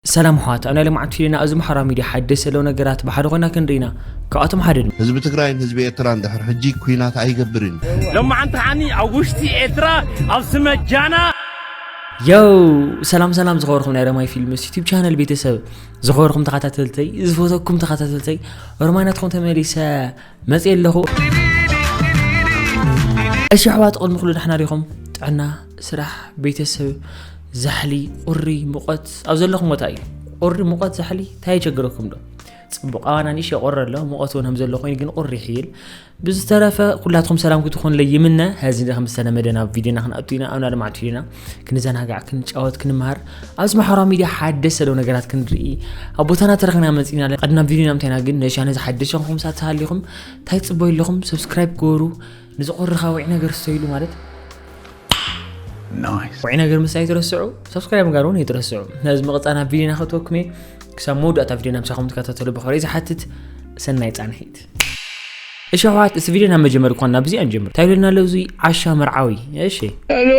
ሰላም ኣሕዋት ኣብ ናይ ሎምዓንቲ ፊሊና ኣዚ ምሓራ ሚድያ ሓደስ ዘለዉ ነገራት ብሓደ ኮይና ክንርኢ ኢና ካብኣቶም ሓደ ድማ። ህዝቢ ትግራይን ህዝቢ ኤርትራን ድሕር ሕጂ ኩናት ኣይገብርን እዩ። ሎምዓንቲ ከዓኒ ኣብ ውሽጢ ኤርትራ ኣብ ስመ ጃና። ዮው ሰላም ሰላም ዝኸበርኩም ናይ ረማይ ፊልምስ ዩቲብ ቻነል ቤተሰብ ዝኸበርኩም ተኸታተልተይ ዝፈተኩም ተኸታተልተይ ሮማይ ናትኩም ተመሊሰ መጽየ ኣለኹ። እሺ ኣሕዋት ቕድሚ ኩሉ ዳሕና ዲኹም ጥዕና ስራሕ ቤተሰብ ዛሕሊ ቁሪ ሙቐት ኣብ ዘለኹም ቦታ እዩ ቁሪ ሙቐት ዛሕሊ እንታይ የቸግረኩም ዶ ፅቡቅ ኣዋና ኒሽ የቆረ ኣሎ ሙቐት እውን ከምዘሎ ኮይኑ ግን ቁሪ ይሕይል ብዝተረፈ ኩላትኩም ሰላም ክትኾንለይ ይምነ ሀዚ ከም ዝተለመደ ናብ ቪድዮና ክንኣቱ ኢና ኣብና ልማዕቱ ኢና ክንዘናጋዕ ክንጫወት ክንምሃር ኣብዚ ማሕበራዊ ሚድያ ሓደሽ ሰደው ነገራት ክንርኢ ኣብ ቦታና ተረክና መፅና ኣለ ቀድና ቪድዮ ናምታይና ግን ነሻ ነዚ ሓደሽ ንኹም ሳት ሃሊኹም እንታይ ፅበዩ ኣለኹም ሰብስክራይብ ገበሩ ንዝቆርኻ ውዒ ነገር ሰይሉ ማለት ውዒ ነገር ምሳይ ትረስዑ ሰብስክራይብ ምጋር እውን ይትረስዑ ነዚ መቕፃና ቪድዮና ክትወክመ ክሳብ መወዳእታ ቪድዮና ምሳኹም ትከታተሉ ብኸሪ ዝሓትት ሰናይ ፃንሒት እሺ ኣሕዋት እዚ ቪድዮ ናብ መጀመሪ እኳ ናብ እዚኣ ንጀምር እንታይ ኢሉና ኣሎ እዙይ ዓሻ መርዓዊ እሺ ኣሎ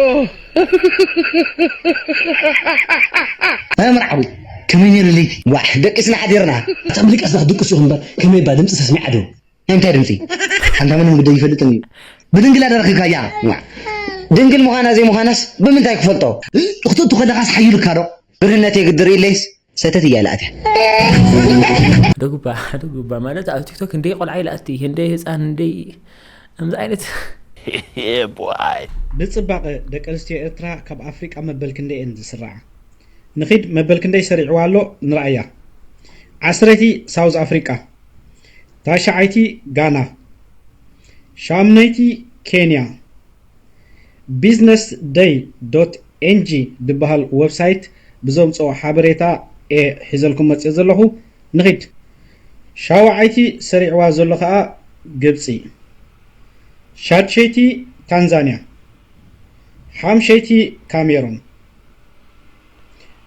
መርዓዊ ከመይ ነይሩ ለይቲ ዋዕ ደቂስና ሓዲርና እታ ምድቃስ ዳኽ ድቅሱ ኢኹም እምበር ከመይ እባ ድምፂ ሰስሚዓ ዶ ናይ እንታይ ድምፂ ሓንታ ምንም ግደ ይፈልጥን እዩ ብድንግላ ደረኺካያ ዋዕ ድንግል ምዃና ዘይምዃናስ ብምንታይ ክፈልጦ ክትእቱ ከለኻስ ሓይሉካ ዶ ብርህነተይ ግዲ ርእለይስ ሰተት እያ ኢላ ኣትያ። ሓደ ጉባ ሓደ ጉባ ማለት ኣብ ቲክቶክ ክንደይ ቆልዓ ይልኣቲ ክንደይ ህፃን ክንደይ ከምዚ ዓይነት ንጽባቐ ደቂ ኣንስትዮ ኤርትራ ካብ ኣፍሪቃ መበል ክንደይ እየን ዝስርዓ? ንኺድ መበል ክንደይ ሰሪዕዋ ኣሎ ንርኣያ። ዓስረይቲ ሳውዝ ኣፍሪቃ፣ ታሽዓይቲ ጋና፣ ሻምነይቲ ኬንያ፣ ቢዝነስ ደይ ዶት ኤንጂ ድበሃል ወብሳይት ብዘውጽኦ ሓበሬታ እየ ሒዘልኩም መጺኤ ዘለኹ። ንኺድ። ሻውዓይቲ ሰሪዕዋ ዘሎ ከኣ ግብጺ። ሻድሸይቲ ታንዛንያ። ሓምሸይቲ ካሜሩን።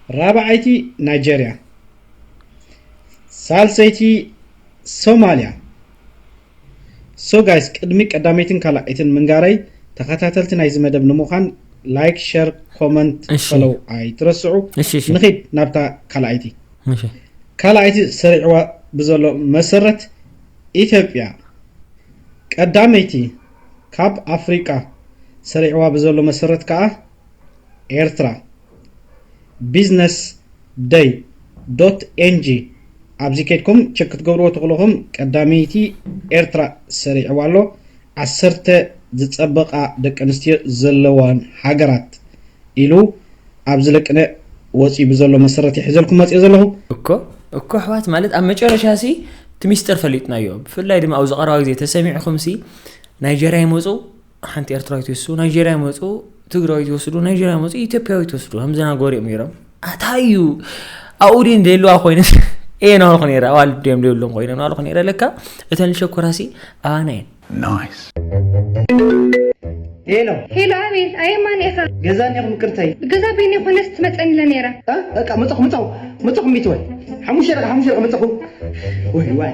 ራብዓይቲ ናይጀርያ። ሳልሰይቲ ሶማልያ። So guys ቅድሚ ቀዳመይትን ካላኣይትን ምንጋረይ ተከታተልቲ ናይዚ መደብ ንምዃን like share comment እሺ። follow ኣይትረስዑ እሺ፣ እሺ። ንኺድ ናብታ ካላኣይቲ እሺ ካላኣይቲ ሰሪዕዋ ብዘሎ መሰረት ኢትዮጵያ ቀዳመይቲ ካብ ኣፍሪቃ ሰሪዕዋ ብዘሎ መሰረት ከኣ ኤርትራ ቢዝነስ ደይ ዶት ኤንጂ ኣብዚ ከድኩም ቸክ ክትገብርዎ ተክለኹም ቀዳመይቲ ኤርትራ ሰሪዕዋ ኣሎ ዓሰርተ ዝጸበቃ ደቂ ኣንስትዮ ዘለዋን ሃገራት ኢሉ ኣብዚ ለቅነ ወጽዩ ብዘሎ መሰረት ይሕዘልኩም መጽየ ዘለኹ። እኮ እኮ ኣሕዋት ማለት ኣብ መጨረሻ ሲ እቲ ሚስጥር ፈሊጥናዮ ብፍላይ ድማ ኣብዚ ቀረባ ግዜ ተሰሚዕኹም ሲ ናይጀርያ ይመፁ ሓንቲ ኤርትራዊት ይወስዱ ናይጀርያ ይመፁ ትግራዊት ይወስዱ ናይጀርያ ይመፁ ኢትዮጵያዊት ይወስዱ ከምዘና ጎሪኦም ነይሮም እንታይ እዩ ኣብኡ ድን ዘይለዋ ኮይነ እየ ናበልኩ ነረ ኣዋል ድም ዘይብሎም ኮይነ ናበልኩ ነረ ለካ እተን ልሸኮራሲ ኣባና እየን ሄሎ ሄሎ፣ ኣቤት። ኣየ ማን ኢኻ? ገዛ እኒኹም ቅርተይ ገዛ በይነ ኮነስ ትመፀኒ ኢለ ነይረ። በቃ መፀኹ መፀኹ መፀኹ ሚትወይ ሓሙሽተ ደቂ ሓሙሽተ ደቂ መፀኹ ወይ ዋይ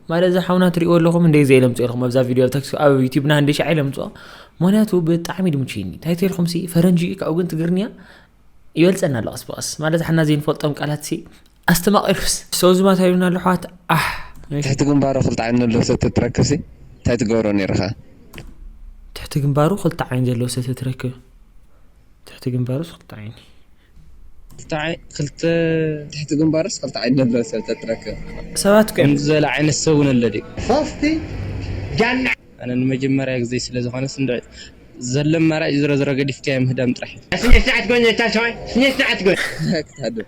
ማዳ እዚ ሓውና ትሪእዎ ኣለኹም እንደ ዘይ ለምጾ ኢልኩም ኣብዛ ቪድዮ ኣብታ ክስ- ኣብ ዩቲብና እንደ ሻዕ ለምጾ ምክንያቱ ብጣዕሚ ድምችይኒ እንታይ ተልኩም ሲ ፈረንጂ እዩ ካብኡ ግን ትግርንያ ይበልጸና ኣሎ ቀስ ብቀስ ማለት ሓና ዘይንፈልጦም ቃላት ሲ ኣስተማቂሩስ ሰው ዝማታ ይሉና ኣሎ ኣሕዋት ኣሕ እሺ። ትሕቲ ግንባሮ ክልተ ዓይኒ ኣሎ ሰተ ትረክብ ሲ እንታይ ትገብሮ ነይርካ ትሕቲ ግንባሩ ክልተ ዓይኒ ዘለዎ ሰተ ትረክብ ትሕቲ ግንባሩስ ክልተ ዓይኒ ክልተ ትሕቲ ግንባርስ ክልተ ዓይኒ ዘለዎ ሰብ ተትረክብ። ሰባት ኮም። ከምዚ ዝበለ ዓይነት ሰብ ውን ኣሎ ድዩ። ሶስት ጃና። ኣነ ንመጀመርያ ግዘይ ስለ ዝኮነ ስንድዕ ዘሎ ኣማራጭ ዝሮዝሮ ገዲፍካዮ ምህዳም ጥራሕ እዩ። ስነ ስርዓት ጎይነታ ሰዋይ ስነ ስርዓት ጎይ። ኣታ ክታደም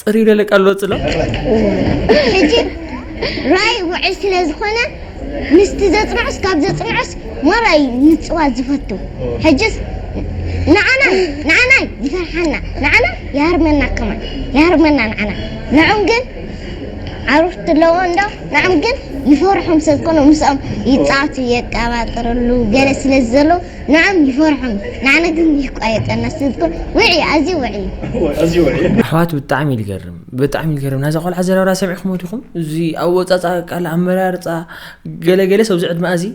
ፅሪ ደለቀ ኣሎ ፅሎ ሕጂ ራእይ ውዕል ስለ ዝኾነ ምስቲ ዘጽንዖስ ካብ ዘጽንዖስ ማራ እዩ ምጽዋት ዝፈቱ ሕጅስ ንዓና ንዓና ይፈርሓና ንዓና ይሃርመና ከማን ይሃርመና ንዓና ንዖም ግን ዓሩፍቲ ኣለዎ እንዶ ንዓም ግን ይፈርሖም ስለ ዝኾኑ ምስኦም ይጻቱ የቀባጥርሉ ገለ ስለ ዘሎ ንዕም ይፈርሑን ንዓና ግን ይቋየጠና ስለዝኮነ ውዕይ ኣዝዩ ውዕይ። ኣሕዋት ብጣዕሚ እዩ ልገርም ብጣዕሚ ልገርም ናዛ ቆልዓ ኣዘራርባ ሰሚዕክሞ ዲኩም እዚ ኣወጻጻ ቃል ኣመራርጻ ገለ ገለስ ኣብዚ ዕድመኣ እዚ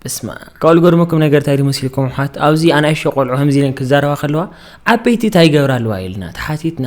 በስመኣብ ካብኡ ልገርመኩም ነገር እንታይ ድዩ መሲልኩም ኣሕዋት ኣብዚ ኣናእሽቶ ቆልዑ ከምዚ ኢለን ክዛረባ ከለዋ ዓበይቲ እንታይ ይገብራ ኣለዋ ኢልና ተሓቲትና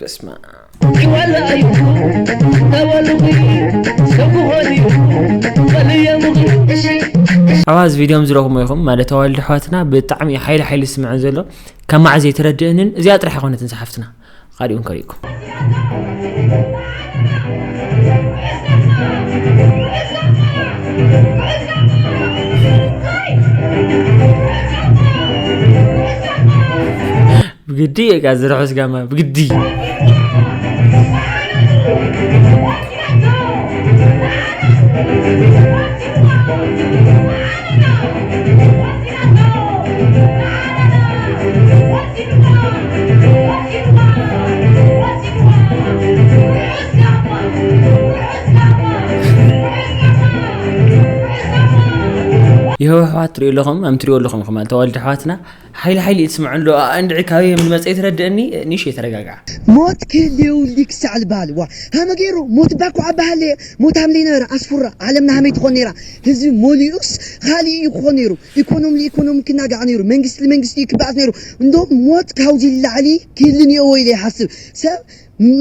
በስመኣም። ኣብ ኣዚ ቪድዮ ዝረኹሞ ይኹም ማለት ኣዋልድ ኣሕዋትና ብጣዕሚ ሓይሊ ሓይሊ ዝስምዐን ዘሎ ካብ ማዕ ዘይትረድእንን እዚኣ ጥራሕ ይኮነትን ዝሓፍትና ካሊኡን ከሪእኩም ብግዲ እየ ቃ ዝርሑስ ጋማ ብግዲ የህወሓት ትሪኡ ኣለኹም ኣም ትሪኡ ኣለኹም ኹም ተዋልደ ኣሕዋትና ሓይሊ ሓይሊ እየ ትስምዖ እንዶ ኣኣ እንድዒ ካበይ ከም ዝመጸ ይትረድእኒ ኒሽየ ተረጋግዓ። ሞት ክህልየውሊ ክሳዕ ዝበሃል እዋ ሃመ ገይሩ ሞት እባ እኳ ኣበሃለየ ሞት ሃምለይ ነበረ ኣስፉራ ዓለምና ሃመይ ትኾን ነይራ ህዝቢ ሞሊኡስ ኻሊእ እዩ ክኾን ነይሩ ኢኮኖም ልኢኮኖም ክናጋዕ ነይሩ መንግስቲ ልመንግስቲ እዩ ክበኣስ ነይሩ እንዶ ሞት ካውዚ ልላዕሊ ክህሊ ኒኦዎ ኢለ ይሓስብ ሰብ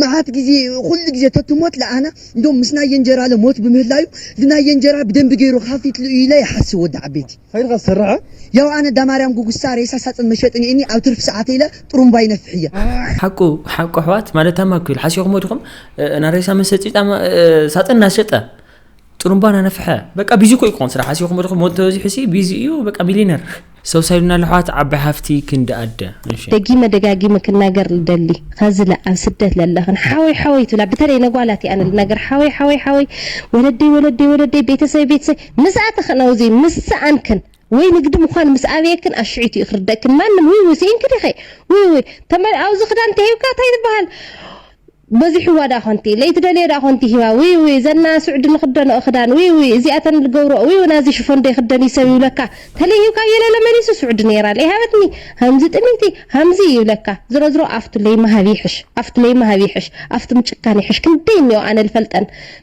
መዓት ግዜ ኹሉ ግዜ ተትሞት ልኣና እንዶ ምስ ናይ የንጀራለ ሞት ብምህላዩ ልናይ የንጀራ ብደንቢ ገይሩ ኻፊትሉ እዩ ኢለ ይሓስብ ወዲ ዓበይቲ። ኸይድኻ ዝሰርሖ ያው ኣነ ዳማርያም ጉጉሳ ሬሳ ሳፅን መሸጢ ኒኤኒ ኣብ ትርፊ ሰዓተይ ኢለ ጥሩምባ ይነፍሕ እየ። ሓቁ ሓቁ ኣሕዋት ማለት ታማ ክብል ሓሲኹሞ ድኹም እና ሬሳ መሰጪ ጣማ ሳጥን ናሸጠ ጥሩምባ ናነፍሐ በቃ ቢዚ ኮይ ክኾን ስራሕ ሓሲኹሞ ድኹም ሞት ተበዚሑሲ ቢዚ እዩ በቃ ሚሊነር ሰው ሳይሉና ለሕዋት ዓባይ ሃፍቲ ክንዲ ኣደ እሺ ደጊመ ደጋጊመ ክናገር ልደሊ ኸዚ ለ ኣብ ስደት ለለኽን ሓወይ ሓወይ ትብላ ብተለይ ነጓላት እየ ኣነ ልናገር ሓወይ ሓወይ ሓወይ ወለደይ ወለደይ ወለደይ ቤተሰበይ ቤተሰበይ ምስኣተኽን ኣውዚ ምስ ሰኣንክን ወይ ንግዲ ምዃን ምስ ኣብየክን ኣሽዒት'ዩ ክርደእክን ማንም ውይውይ ሲኢንኪ ዲኺ ውይውይ ተመል ኣውዚ ክዳን ተሂብካ ታይ ትብሃል በዚሑዋ ድኣ ኮንቲ ለይቲ ደልየ ድኣ ኮንቲ ሂባ ውይውይ ዘና ሱዕዲ ንኽደንኦ ክዳን ውይውይ እዚኣተን ልገብርኦ ውይውይ ናዚ ሽፎን ደይኽደን'ዩ ሰብ ይብለካ ተለይ ሂብካ የለለ መሊሱ ሱዕዲ ነይራ ለይሃበትኒ ሃምዚ ጥምይቲ ሃምዚ ይብለካ ዝሮዝሮ ኣፍቱ ለይምሃብ ይሕሽ ኣፍቱ ለይምሃብ ይሕሽ ኣፍቱ ምጭካን ይሕሽ ክንደይ እኒኦ ኣነ ልፈልጠን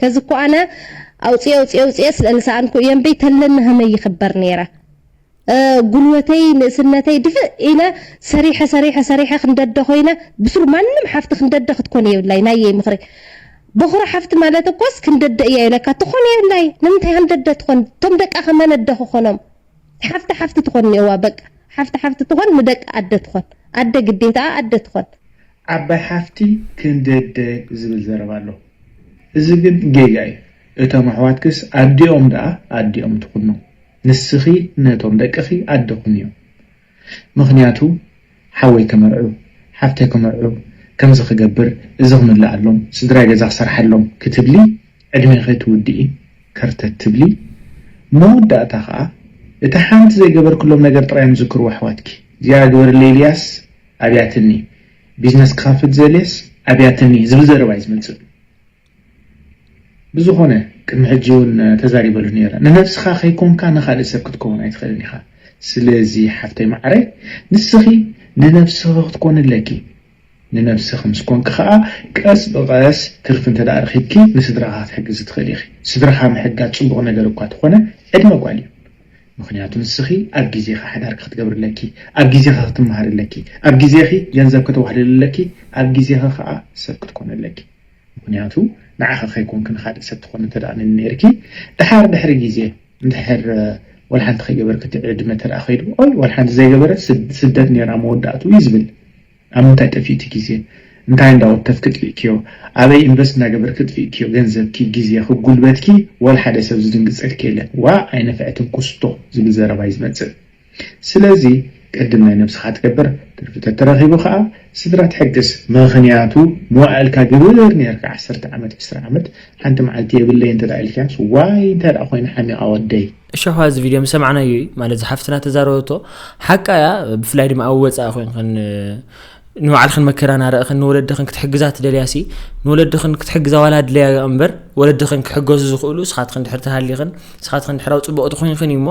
ከዚ እኮ ኣነ ኣውጽየ ኣውጽየ ኣውጽየ ስለ ልሰኣንኩ እየ እምበይ ተለኒ ሀመይ ይክበር ነይረ ጉልበተይ ንእስነተይ ድፍእ ኢለ ሰሪሐ ሰሪሐ ሰሪሐ ክንደደ ኮይነ ብስሩ ማንም ሓፍቲ ክንደደ ክትኮን የብላይ ናየይ ምክሪ በኩሪ ሓፍቲ ማለት እኮስ ክንደደ እያ ኢለካ ትኮን የብላይ ንምንታይ ሃንደደ ትኮን እቶም ደቃ ከመነደ ክኮኖም ሓፍቲ ሓፍቲ ትኮን እኒኦዋ በቃ ሓፍቲ ሓፍቲ ትኮን ንደቃ ኣደ ትኮን ኣደ ግዴታኣ ኣደ ትኮን ዓባይ ሓፍቲ ክንደደ ዝብል ዘረባ ኣሎ እዚ ግን ጌጋ እዩ እቶም ኣሕዋትክስ ኣዲኦም ደኣ ኣዲኦም ትኹኑ ንስኺ ነቶም ደቅኺ ኣደ ኩንዮም ምኽንያቱ ሓወይ ክምርዑ ሓፍተይ ክምርዑ ከምዚ ክገብር እዚ ክምልኣሎም ስድራይ ገዛ ክሰርሓሎም ክትብሊ ዕድሜኺ ትውድኢ ከርተት ትብሊ መወዳእታ ከኣ እታ ሓንቲ ዘይገበርክሎም ነገር ጥራዮም ዝዝክርዎ ኣሕዋትኪ እዚኣ ግበርለይ ኢልያስ ኣብያትኒ ቢዝነስ ክኸፍት ዝደልየስ ኣብያትኒ ዝብል ዘረባ እዩ ዝመጽእ ብዝኾነ ቅድሚ ሕጂ ውን ተዛሪበሉ ነይረ ንነብስኻ ከይኮንካ ንኻልእ ሰብ ክትከውን ኣይትኽእልን ኢኻ ስለዚ ሓፍተይ ማዓረይ ንስኺ ንነብስኺ ክትኮኒ ኣለኪ ንነብስኺ ምስ ኮንኪ ከኣ ቀስ ብቐስ ትርፊ እንተ ረኺብኪ ንስድራኻ ክትሕግዚ ትኽእሊ ኢኺ ስድራኻ ምሕጋዝ ጽቡቕ ነገር እኳ ተኾነ ዕድመ ጓል እዩ ምኽንያቱ ንስኺ ኣብ ግዜኺ ሓዳርኪ ክትገብሪ ኣለኪ፣ ኣብ ግዜኺ ክትመሃሪ ኣለኪ፣ ኣብ ግዜኺ ገንዘብ ከተዋህልሊ ኣለኪ፣ ኣብ ግዜኺ ከኣ ሰብ ክትኮኒ ኣለኪ። ምኽንያቱ ንዓኺ ከይኮንኪ ንኻልእ ሰብ ትኾኒ እንተደኣ ነይርኪ ደሓር ድሕሪ ግዜ እንድሕር ወላ ሓንቲ ከይገበርኪ እቲ ዕድመ እንተደኣ ከይዱ ኦይ ወላ ሓንቲ ዘይገበረት ስደት ነይራ መወዳእትኡ እዩ ዝብል። ኣብ ምንታይ ጠፊእኪ ግዜ እንታይ እንዳ ወከፍኪ ጥፊእክዮ ኣበይ ኢንቨስት እንዳ ገበርኪ ጥፊእክዮ ገንዘብኪ ግዜኪ ጉልበትኪ ወላ ሓደ ሰብ ዝድንግጸልኪ የለን ዋእ ኣይነፈዐትን ኩስቶ ዝብል ዘረባ እዩ ዝመጽእ ስለዚ ቅድም ናይ ነብስካ ትገብር ትርፊ ተተረኪቡ ከኣ ስድራ ትሕግዝ ምክንያቱ መዋእልካ ግብር ኔርካ ዓሰርተ ዓመት ዕስራ ዓመት ሓንቲ መዓልቲ የብለይን እንተ ኢልካዮስ ዋይ እንታይ ደኣ ኮይኑ ሓሚቃ ወደይ እሻኳ እዚ ቪድዮ ምሰማዕናዮ እዩ ማለት ዝሓፍትና ተዛረበቶ ሓቃ እያ ብፍላይ ድማ ኣብ ወፃኢ ኮንክን ንባዕልክን መከራ ናርእኽን ንወለድኽን ክትሕግዛ ትደልያሲ ንወለድኽን ክትሕግዛ ዋላ ድለያ እምበር ወለድኽን ክሕገዙ ዝኽእሉ ስኻትኽን ድሕር ተሃሊኽን ስኻትኽን ድሕራዊ ፅቡቕ ትኾይንኽን እዩ እሞ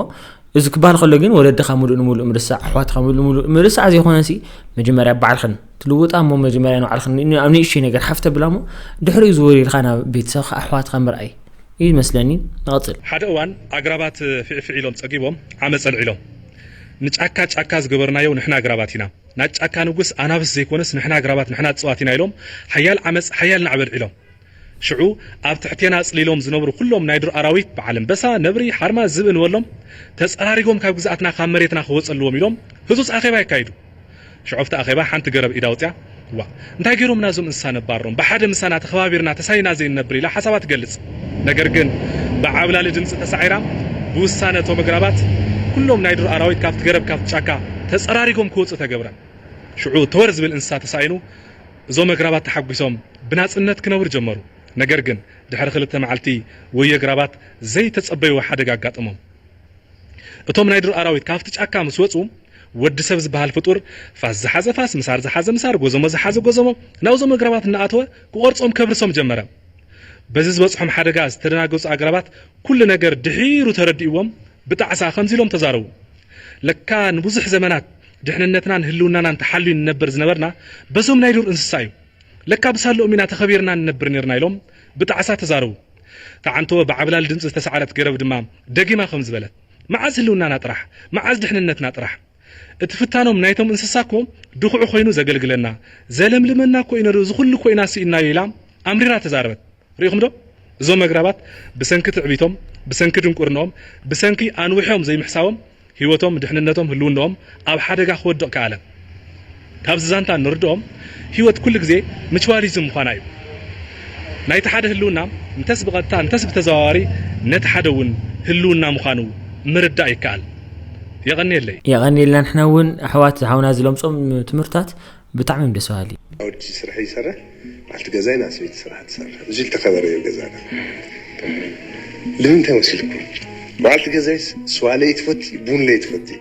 እዚ ክበሃል ከሎ ግን ወለድኻ ሙሉእ ንሙሉእ ምርሳዕ ኣሕዋትኻ ሙሉእ ንሙሉእ ምርሳዕ ዘይኮነሲ መጀመርያ ባዕልኽን ትልውጣ እሞ መጀመርያ ንባዕልኽን ኣብ ንእሽተይ ነገር ሓፍተ ብላ እሞ ድሕሪኡ ዝወሪልካ ናብ ቤተሰብካ ኣሕዋትካ ምርኣይ እዩ መስለኒ ንቐጽል። ሓደ እዋን ኣግራባት ፊዕፊዕ ኢሎም ጸጊቦም ዓመጽ ኣልዒሎም። ንጫካ ጫካ ዝገበርናዮ ንሕና ኣግራባት ኢና፣ ናይ ጫካ ንጉስ ኣናብስ ዘይኮነስ ንሕና ኣግራባት ንሕና እጽዋት ኢና ኢሎም ሓያል ዓመጽ ሓያል ናዕቢ ኣልዒሎም። ሽዑ ኣብ ትሕቴና ጽሊሎም ዝነብሩ ኩሎም ናይ ዱር ኣራዊት በዓል ኣንበሳ፣ ነብሪ፣ ሓርማዝ፣ ዝብኢ ንበሎም ተጸራሪጎም ካብ ግዝኣትና ካብ መሬትና ክወጸልዎም ኢሎም ህጹጽ ኣኼባ የካይዱ። ሽዑ ኣብቲ ኣኼባ ሓንቲ ገረብ ኢዳ ኣውጺኣ፣ ዋእ! እንታይ ገይሮምና እዞም እንስሳ ነባሮም፣ ብሓደ ምሳና ተኸባቢርና ተሳኒና ዘይንነብር ኢላ ሓሳባ ትገልጽ። ነገር ግን ብዓብላሊ ድምጺ ተሳዒራ፣ ብውሳነ እቶም ኣግራባት ኩሎም ናይ ዱር ኣራዊት ካብቲ ገረብ ካብቲ ጫካ ተጸራሪጎም ክወጹ ተገብረ። ሽዑ ተወር ዝብል እንስሳ ተሳኢኑ፣ እዞም ኣግራባት ተሓጒሶም ብናጽነት ክነብሩ ጀመሩ። ነገር ግን ድሕሪ ክልተ መዓልቲ ወዮ ኣግራባት ዘይተጸበይዎ ሓደጋ ኣጋጠሞም። እቶም ናይ ዱር ኣራዊት ካብቲ ጫካ ምስ ወጹ፣ ወዲ ሰብ ዝበሃል ፍጡር ፋስ ዝሓዘ ፋስ፣ ምሳር ዝሓዘ ምሳር፣ ጎዞሞ ዝሓዘ ጎዞሞ ናብዞም ኣግራባት እናኣተወ ክቖርጾም ከብርሶም ጀመረ። በዚ ዝበጽሖም ሓደጋ ዝተደናገጹ ኣግራባት ኩሉ ነገር ድሒሩ ተረዲእዎም ብጣዕሳ ከምዚ ኢሎም ተዛረቡ፣ ለካ ንብዙሕ ዘመናት ድሕንነትናን ህልውናናን ተሓልዩ ንነበር ዝነበርና በዞም ናይ ዱር እንስሳ እዩ። ለካ ብሳለኦም ኢና ተኸቢርና ንነብር ኔርና ኢሎም ብጣዕሳ ተዛረቡ። ተዓንቶ ብዓብላሊ ድምጺ ዝተሳዕረት ገረብ ድማ ደጊማ ከምዚ በለት። መዓዝ ህልውናና ጥራሕ መዓዝ ድሕንነትና ጥራሕ እቲ ፍታኖም ናይቶም እንስሳ እኮ ድኹዒ ኮይኑ ዘገልግለና ዘለምልመና እኮ እዩ ነሩ እዚ ኩሉ እኮ ኢና ስኢንናዮ ኢላ ኣምሪራ ተዛረበት ሪኢኹም ዶ እዞም ኣግራባት ብሰንኪ ትዕቢቶም ብሰንኪ ድንቁርንኦም ብሰንኪ ኣንዊሖም ዘይምሕሳቦም ሂወቶም ድሕንነቶም ህልውንኦም ኣብ ሓደጋ ክወድቕ ከኣለ ካብዚ ዛንታ እንርድኦም ህይወት ኩሉ ግዜ ምችዋሊዝም ምዃና እዩ። ናይቲ ሓደ ህልውና እንተስ ብቐጥታ እንተስ ብተዘዋዋሪ ነቲ ሓደ እውን ህልውና ምዃኑ ምርዳእ ይከኣል። የቐንየለይ። የቐንየልና ንሕና ውን ኣሕዋት ሓውና ዝለምጾም ትምህርታት ብጣዕሚ እዮም ደስ በሃሊ። ኣወዲ ስርሐይ ይሰርሕ በዓልቲ ገዛይ እና ሰበይቲ ስርሓ ትሰርሕ እዚ ልተከበረ እዩ ገዛና ልምንታይ መሲልኩም በዓልቲ ገዛይስ ስዋ ለይትፈቲ ቡን ለይትፈቲ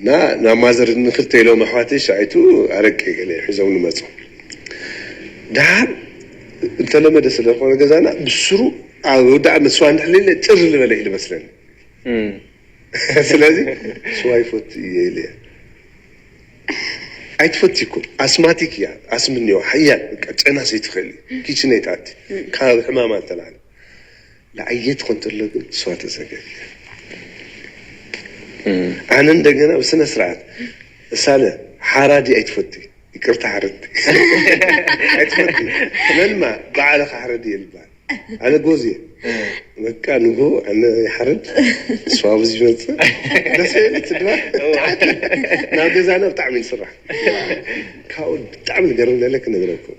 እና ናብ ማዘር ንክልተ ኢሎም ኣሕዋተይ ሻይቱ ኣረቂ ገለ ሒዞምኒ መፁ ዳሓር እተለመደ ስለ ዝኮነ ገዛና ብስሩ ኣብ ወዳእነት ስዋ እንድሕር ኢለ ጭር ልበለ እዩ ልመስለኒ ስለዚ ስዋ ይፈቱ እየ ኢለ ኣይትፈትይኩን ኣስማቲክ እያ ኣስሚ እኒኦ ሓያል በቃ ጨናሲ ኣይትክእል እዩ ኪችነይ ትኣቲ ካብ ሕማማ ዝተላዕለ። ንዓየ ትክንትሎ ግን ንስዋ ተዘገየ ኣነ እንደገና ብስነ ስርዓት ሳለ ሓራዲ ኣይትፈቲ ይቅርታ ሓረድቲ ኣይትፈቲ መንማ ባዓለ ክሓረድ እየ ልባል ኣነ ጎዝ እየ በቃ ንግሆ ኣነ ይሓርድ ንስዋ ኣብዚ ይመፅእ ደስ በይሉ ትድባር ትሓኪ ናብ ገዛና ብጣዕሚ ንስራሕ ካብኡ ብጣዕሚ ዝገርም ለለ ክነግረኩም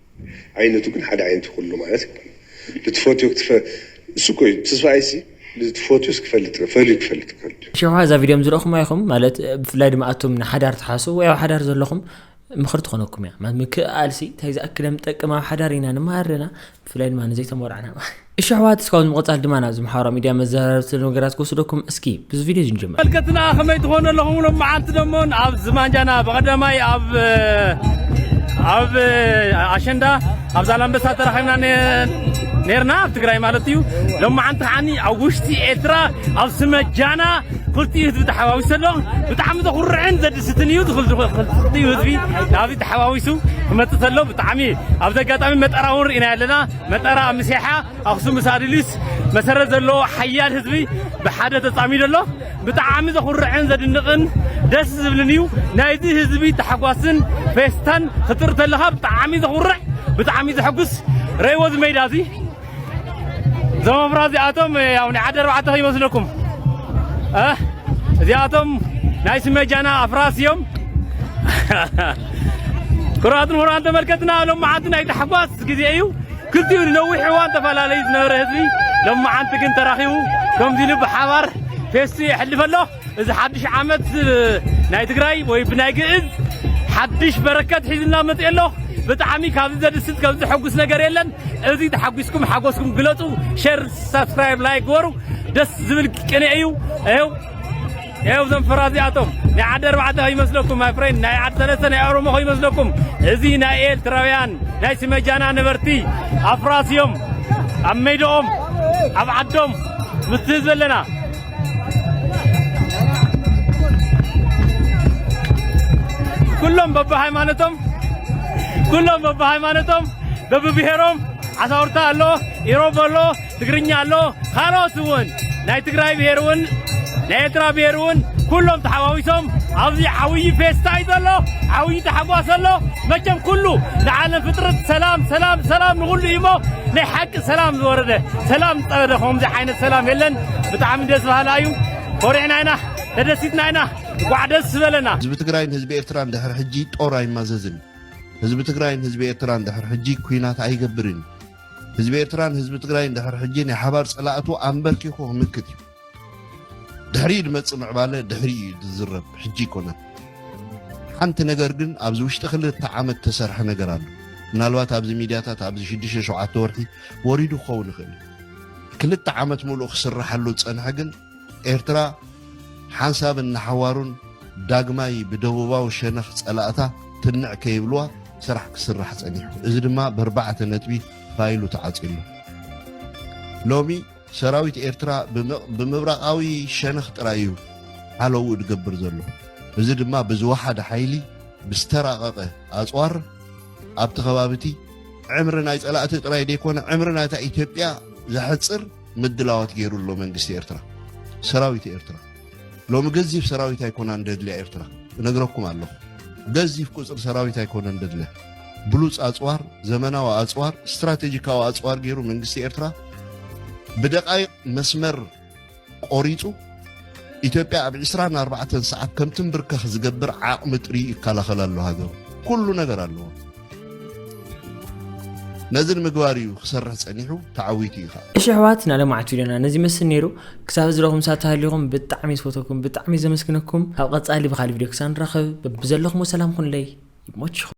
ዓይነቱ ግን ሓደ ዓይነት'ዩ ኩሉ ማለት የብሉን ልትፈትዮ ክትፈ እሱ እኮ እዩ ትስፋይሲ ልትፈትዩስ ክፈልጥ ፈልዩ ክፈልጥ ከሎ እዩ። ሽሕ እዛ ቪድዮ ዝረእኹማ ኢኹም ማለት ብፍላይ ድማ ኣቱም ንሓዳር ትሓስቡ ወይ ኣብ ሓዳር ዘለኹም ምኽሪ ትኾነኩም እያ ምክእኣልሲ እንታይ ዝኣክል ከም ትጠቅም ኣብ ሓዳር ኢና ንመሃር ኣለና ብፍላይ ድማ ንዘይተመርዕና እሺ ኣሕዋት እስካብ ንምቕጻል ድማ ናብዚ ማሕበራዊ ሚድያ መዘራረቢ ስለ ነገራት ክወስደኩም እስኪ ብዚ ቪድዮ እዚ ንጀምር መልከትና ከመይ ትኾኑ ኣለኹም ሎም መዓልቲ ደሞን ኣብ ዝማንጃና ብቐዳማይ ኣብ ኣብ ኣሸንዳ ኣብ ዛላምበሳ ተራኺብና ነርና ኣብ ትግራይ ማለት እዩ ሎም መዓልቲ ከዓኒ ኣብ ውሽጢ ኤርትራ ኣብ ስመጃና ክልቲኡ ህዝቢ ተሓዋዊሱ ኣሎ ብጣዕሚ ዘኹርዕን ዘድስትን እዩ ክልቲኡ ህዝቢ ናብዚ ተሓዋዊሱ ክመፅእ ተሎ ብጣዕሚ ኣብዚ ኣጋጣሚ መጠራ እውን ርኢና ኣለና መጠራ ኣምሴሓ ኣክሱም ምስ ኣድሊስ መሰረት ዘለዎ ሓያል ህዝቢ ብሓደ ተጻሚዶ ኣሎ ብጣዕሚ ዘኹርዕን ዘድንቕን ደስ ዝብልን እዩ ናይዚ ህዝቢ ታሕጓስን ፌስታን ክትርኢ ተለኻ ብጣዕሚ ዘኹርዕ ብጣዕሚ ዘሐጉስ ረእይዎ እዚ ሜዳ እዚ እዞም ኣፍራ እዚኣቶም ያው ናይ ዓዲ ኣርባዕተ ከይመስለኩም እዚኣቶም ናይ ስመጃና ኣፍራስ እዮም ኩራትን ሁራን ተመልከትና ሎም መዓልቲ ናይ ታሕጓስ መበገሲ ግዜ እዩ። ክልቲኡ ንነዊሕ እዋን ተፈላለዩ ዝነበረ ህዝቢ ሎማዓንቲ ግን ተራኺቡ ከምዚ ኢሉ ብሓባር ፌስቱ የሕልፍ ኣሎ። እዚ ሓድሽ ዓመት ናይ ትግራይ ወይ ብናይ ግእዝ ሓድሽ በረከት ሒዝልና መፂኡ ኣሎ። ብጣዕሚ ካብዚ ዘድስት ከም ዘሐጉስ ነገር የለን። እዚ ተሓጒስኩም ሓጎስኩም ግለፁ። ሼር፣ ሳብስክራይብ፣ ላይክ ግበሩ። ደስ ዝብል ቅኔ እዩ። ይኸው ያው ዘም ፍራ እዚኣቶም ናይ ዓዲ ኣርባዕተ ከይመስለኩም ማይ ፍሬንድ ናይ ዓዲ ሰለስተ ናይ ኦሮሞ ከይመስለኩም እዚ ናይ ኤርትራውያን ናይ ስመጃና ነበርቲ ኣፍራስ እዮም ኣብ ሜድኦም ኣብ ዓዶም ምስ ህዝቢ ኣለና ኩሎም በብሃይማኖቶም ኩሎም በብሃይማኖቶም በብብሔሮም ዓሳውርታ ኣሎ ኢሮብ ኣሎ ትግርኛ ኣሎ ካልኦት እውን ናይ ትግራይ ብሄር እውን ናይ ኤርትራ ብሄር እውን ኩሎም ተሓዋዊሶም ኣብዚ ዓብዪ ፌስታ እዩ ዘሎ ዓብዪ ታሕጓስ ኣሎ መቸም ኩሉ ንዓለም ፍጥረት ሰላም ሰላም ሰላም ንኹሉ እዩ እሞ ናይ ሓቂ ሰላም ዝወረደ ሰላም ዝጠበደ ከምዚ ዓይነት ሰላም የለን ብጣዕሚ ደስ በሃላ እዩ ኮሪዕና ኢና ተደሲትና ኢና እንኳዕ ደስ በለና ህዝቢ ትግራይን ህዝቢ ኤርትራን ድሕሪ ሕጂ ጦር ኣይማዘዝን ህዝቢ ትግራይን ህዝቢ ኤርትራን ድሕሪ ሕጂ ኩናት ኣይገብርን ህዝቢ ኤርትራን ህዝቢ ትግራይን ድሕሪ ሕጂ ናይ ሓባር ጸላእቱ ኣንበርኪኹ ክምክት እዩ ድሕሪ ድመጽእ ምዕባለ ድሕሪ እዩ ዝዝረብ ሕጂ ይኮነን ሓንቲ ነገር ግን ኣብዚ ውሽጢ ክልተ ዓመት ተሰርሐ ነገር ኣሎ ምናልባት ኣብዚ ሚድያታት ኣብዚ ሽዱሽተ ሸውዓተ ወርሒ ወሪዱ ክኸውን ይኽእል እዩ ክልተ ዓመት ሙሉእ ክስርሓሉ ዝፀንሐ ግን ኤርትራ ሓንሳብን ንሓዋሩን ዳግማይ ብደቡባዊ ሸነኽ ጸላእታ ትንዕ ከይብልዋ ስራሕ ክስራሕ ጸኒሑ። እዚ ድማ በርባዕተ ነጥቢ ፋይሉ ተዓጽዩ ኣሎ። ሎሚ ሰራዊት ኤርትራ ብምብራቓዊ ሸነኽ ጥራይ እዩ ሓለውኡ ድገብር ዘሎ። እዚ ድማ ብዝወሓደ ሓይሊ ብዝተራቐቐ ኣጽዋር ኣብቲ ከባቢቲ ዕምሪ ናይ ጸላእቲ ጥራይ ደይኮነ ዕምሪ ናይታ ኢትዮጵያ ዘሕጽር ምድላዋት ገይሩ ኣሎ መንግስቲ ኤርትራ ሰራዊት ኤርትራ ሎሚ ገዚፍ ሰራዊት ኣይኮና እንደድልያ ኤርትራ እነግረኩም ኣለኹ ገዚፍ ቁፅሪ ሰራዊት ኣይኮነ እንደድልያ ብሉፅ ኣፅዋር ዘመናዊ ኣፅዋር ስትራቴጂካዊ ኣፅዋር ገይሩ መንግስቲ ኤርትራ ብደቃይቅ መስመር ቆሪፁ ኢትዮጵያ ኣብ 24 ሰዓት ከምትንብርከኽ ዝገብር ዓቕሚ ጥሪ ይከላኸል ኣሎ ሃገሩ ኩሉ ነገር ኣለዎ ነዚ ንምግባር እዩ ክሰርሕ ጸኒሑ ተዓዊቱ እዩ ከዓ እሺ ኣሕዋት ናለማዕቱ ኢለና ነዚ ይመስል ነይሩ ክሳብ እዚ ረኹም ሳት ሃሊኹም ብጣዕሚ ዝፈተኩም ብጣዕሚ ዘመስግነኩም ኣብ ቐጻሊ ብካሊ ቪድዮ ክሳብ ንራኸብ በብዘለኹሞ ሰላም ኩንለይ ይሞችኹም